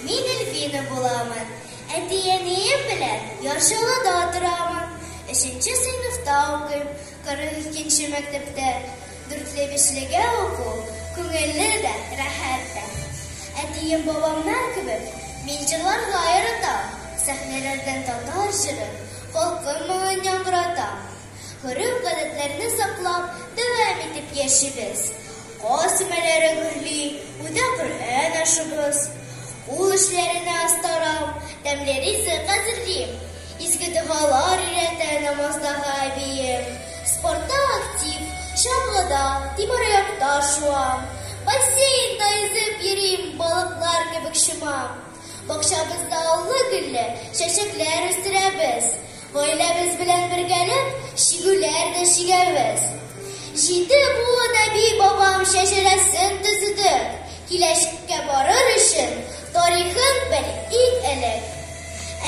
Мин Эльвина буламын. Әти-әнием белән Яршалыда торамын. Өченче сыйныфта укыйм. 42 нче мәктәптә. Дүртле-бишлегә уку күңелле дә, рәхәт тә. Әтием-бабамнар кебек мин җырларга яратам. Сәхнәләрдә татар җырын, халкым моңын яңгыратам. Гореф-гадәтләрне саклап, дәвам итеп яшибез. Каз өмәләре гөрли, үтә Коръән ашыбыз. Кул эшләренә астарам, тәмле ризык әзерлим. Изге догалар өйрәтә намаздагы әбием. Спортта актив, чаңгыда, тимераякта шуам. Бассейнда йөзеп йөрим, балыклар кебек чумам. Бакчабызда аллы-гөлле чәчәкләр үстерәбез. Гаиләбез белән бергәләп чигүләр дә чигәбез. Җиде буын әби-бабам шәҗәрәсен төзедек. Киләчәккә барыр өчен тарихын бел иң элек.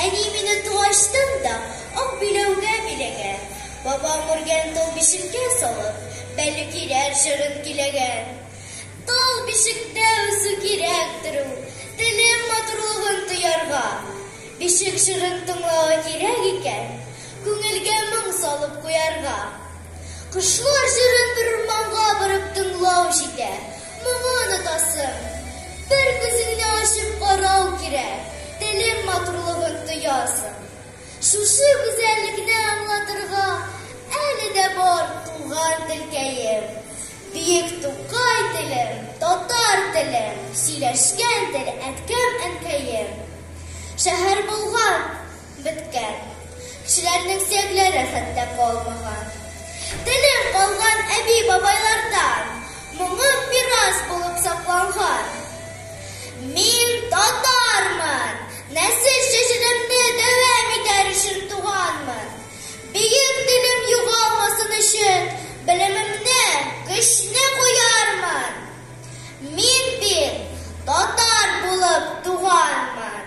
Әни мине туачтын да ак биләүгә биләгән. Бабам үргән тол бишеккә салып, Бәле кирәр җырын киләгән. Тол бишектә үсү кирәк, төрү, телем матурлыгын тоярга. Бишек җырын тыңлау кирәк икән, күңелгә моң салып куярга. Кошлар җырын бер урманга барып тыңлау җитә, моңы онытасың. Бер күзеңне ачып карау кирәк, телем матурлыгын тоясың. Шушы гүзәллекне аңлатырга әле дә бар туган телкәем. Биек Тукай телем, татар телем, Сөйләшкән тел әткәм-әнкәем. Шәһәр булган, беткән, Кешеләрнең сөякләре хәтта калмаган. Телем калган әби-бабайлардан, Моңым мирас булып сакланган. Мин татармын, нәсел чәчелемне Дәвам итәр өчен туганмын. Бөек телем югалмасын өчен белемемне, көчне куярмын. Мин бит татар булып туганмын.